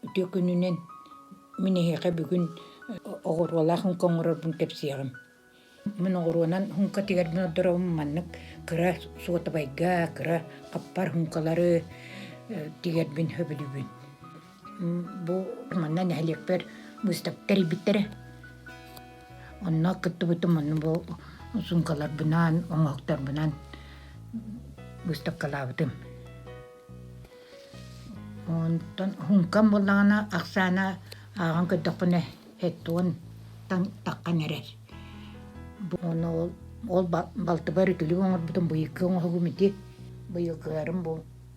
Үтүө күнүнэн мин эһиэхэ бүгүн оҕуруолаах һуҥка оҥорорбун кэпсиэҕим. Мин оҕуруонан һуҥкатыгар мин олорорум маннык кыра суотабайга, кыра хаппар һуҥкалары тигэрбин хөбүлүүбүн. бу манна нэһилиэкпэр быыстапка тэрийбиттэрэ онно кыттыбытым онну бу сумкаларбынан оҥоһуктарбынан быыстапкалаабытым онтон сумкам буоллаҕына ахсаана ааҕан көрдөххүнэ hetton таххан эрэр ону ол балтыбар үтүлүгү оҥорбутум быйылгы оҥоһугум ити быйылгыларым бу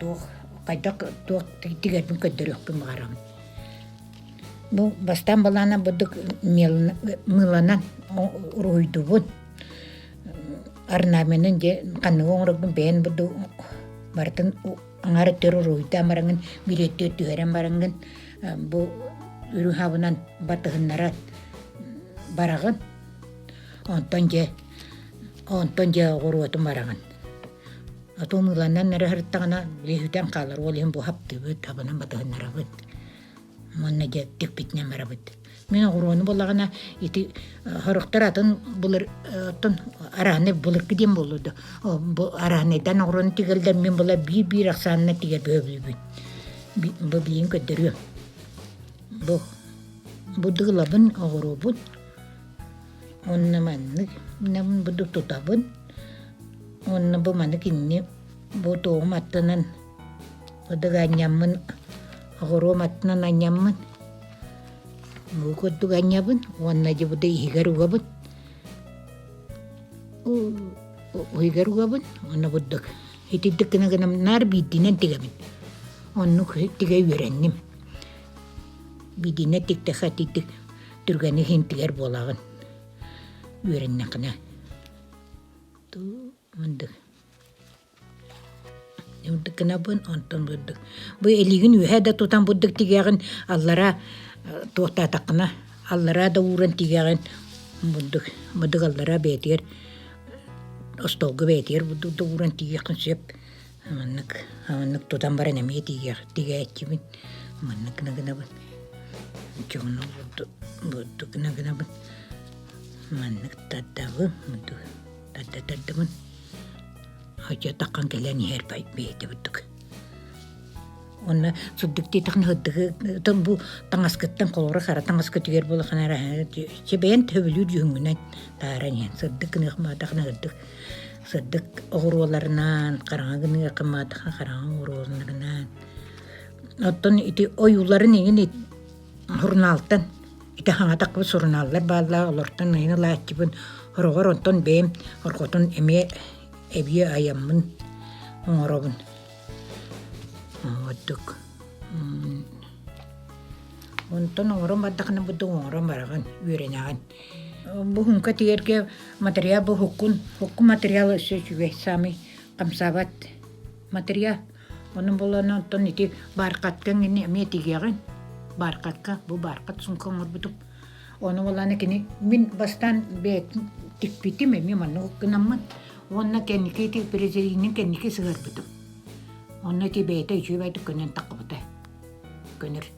туох хайдах туох тигэрбин көрдөрүөхпүн баҕарабын бу бастаан былаанам бурдук мыыланан уруһуйдуубун орнаменын дьэ ханныгы оҥороргун бэйэн бурдук барытын аҥаары төр уруһуйдаан бараҥын билеттиир түһэрэн бараҥгын бу үрүһабынан батыһыннаран бараҕын онтон дьэ онтон дьэ оҕуруотун бараҕын Отун ыланнан эрэ сырыттаҕына лиһүтэн хаалар. Ол иһин бу хаптыыбыт, хабанан батыһыннарабыт. Манна дьэ тикпитинэн барабыт. Мин огуроону буллаҕына ити сорохтор атын булар оттон арааны буларга диэн буоллу да бу араанайдан огуроону тигэлдэр мин була биир-биир ахсаанына тигэ бөбүүбүн. Бу билигин көрдөрүөм. Бу бу дыгылабын огуруубут Уонна маннык буду тутабын. Уонна бу маны кинини бу туоҕум аттынан кудуга анньаммын оҕуруом аттынан анньаммын бу курдук анньабын уонна дьыбыды иһигэр угабын уйгар угабын уонна бурдук итирдик гына гынам наар биирдинен тигабин оннук тигэ үөрэнним биирдинен тикте хатитик түргэни хинтигэр буолаҕын үөрэннэххинэ мындык мындык гынабын онтон бырдык бу илигин үөһэ да тутан бурдук тигиэҕин аллара туохтаатаххына аллара да ууран тигиэҕин бурдук быдык аллара бэйэтигэр остуолга бэйэтигэр бурдук да ууран тигиэххин сөп Маннык, маннык тутан баран эмиэ тиийиэх, тигээччибин. Маннык гына гынабын. Дьону бурдук гына гынабын. Маннык тардабын, бурдук тарда тардабын. Хотя таххан кэлэн иһэр бэйэтэ бурдук. Онно сурдук диэтэхне хыддыгы тон бу таҥаскыттан холоро хара таҥаскытыгар булаханара чи бэйэн төбөлүүр жүһүнгүнэн тааран иһэн сырдык гыныах маатахна хыддык Сырдык оҕуруоларынан, хараҥа гыныа кымаатаха хараҥа оҕуруоларынан. Оттон ити ойууларын иҥин сурунаалтан ити хаҥатахпыт сурунааллар бааллаа олортон ыйын ылааччыбын хороҕор онтон бэйэм орҕотун эмиэ эбиэ айаммын оҥоробун ордук онтон оҥорон бардахына будду оҥорон бараҕын үөрэнэҕин Буһунка тигэргэ материал буһуккун, хукку материал өссө үчүгэй, самый хамсаабат материал. Онон буоллаана оттон ити бааркаткаҥ ини эмиэ тигиэҕин. Бааркатка, бу бааркат сумка оҥорбутум. Ону буоллаана кини мин бастаан бэйэтин тикпитим эмиэ маннык гынаммын уонна кэнники ити презервинин кэнники сыһарбытым. Онно ити бэйэтэ үчүгэйдик көнөн тахпыта. Көнөр